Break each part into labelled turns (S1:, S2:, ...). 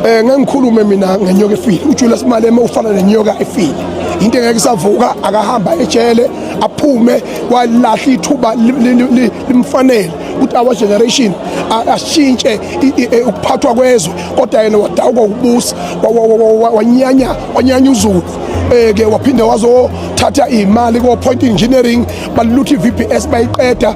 S1: Eh ngangikhulume mina ngenyoka efile. UJulius Malema ufana nenyoka efile. Into engeke isavuka akahamba ejele aphume kwalahla ithuba limfanele ukuthi our generation ashintshe e, ukuphathwa kwezwe kodwa yena wadawuka ukubusa wanyanya wanyanya uzulu eh ke waphinde wazothatha imali ko point engineering balutha iVPS bayiqeda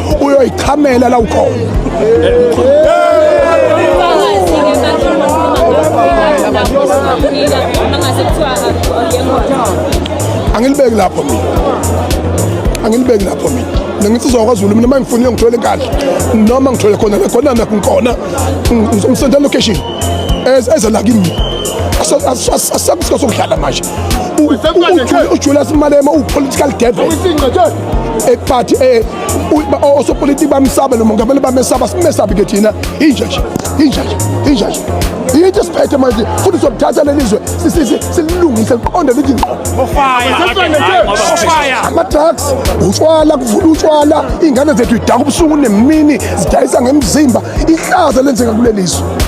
S1: ubuyoyichamela la ukhona angilibeki lapho mina angilibeki lapho mina nangithi uzokwaZulu mina mangifunile ngithole inkandla noma ngithole khona khona nakho ngikhona ngizomsenda location eza la kimi asakusikho sokudlala manje ujula simalema uwu-political devil ekuphathi eh, osopolitiki bamsaba lo mongameli bamesaba simesabi ke thina inja nje inja nje inja nje yinto siphethe manje futhi sokuthatha leli zwe sililungise liqonde lithi ama-drugs utshwala kuvula utshwala iy'ngane zethu idaka ubusuku nemini zidayisa ngemzimba ihlaza lenzeka kuleli zwe